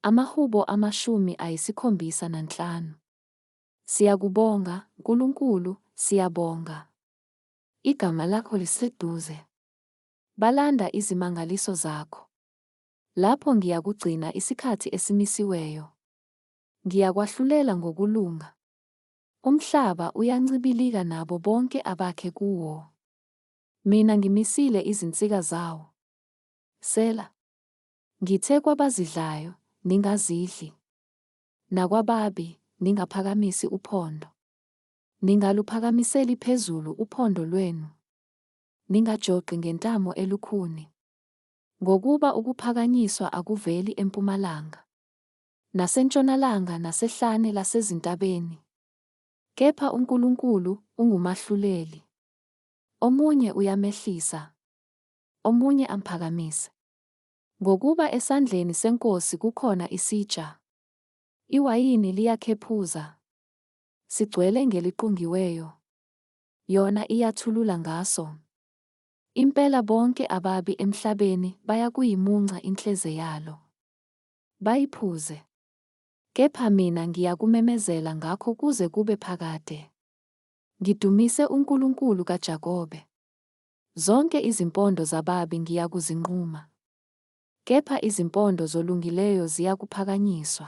Amahubo amashumi ayisikhombisa nanhlanu. Siyakubonga, Nkulunkulu, siyabonga. Igama lakho liseduze. Balanda izimangaliso zakho. Lapho ngiyakugcina isikhathi esimisiweyo. Ngiyakwahlulela ngokulunga. Umhlaba uyancibilika nabo bonke abakhe kuwo. Mina ngimisile izinsika zawo. Sela. Ngithe kwabazidlayo, Ningazidli, nakwababi, ningaphakamisi uphondo. Ningaluphakamiseli phezulu uphondo lwenu, ningajoqi ngentamo elukhuni, ngokuba ukuphakanyiswa akuveli empumalanga, nasentshonalanga nasehlane lasezintabeni, kepha uNkulunkulu ungumahluleli, omunye uyamehlisa, omunye amphakamise. Ngokuba esandleni seNkosi kukhona isitsha, iwayini liyakhephuza, sigcwele ngeliqungiweyo, yona iyathulula ngaso. Impela bonke ababi emhlabeni bayakuyimunca inhleze yalo, bayiphuze. Kepha mina ngiyakumemezela ngakho kuze kube phakade, ngidumise uNkulunkulu kaJakobe. Zonke izimpondo zababi ngiyakuzinquma, kepha izimpondo zolungileyo ziyakuphakanyiswa.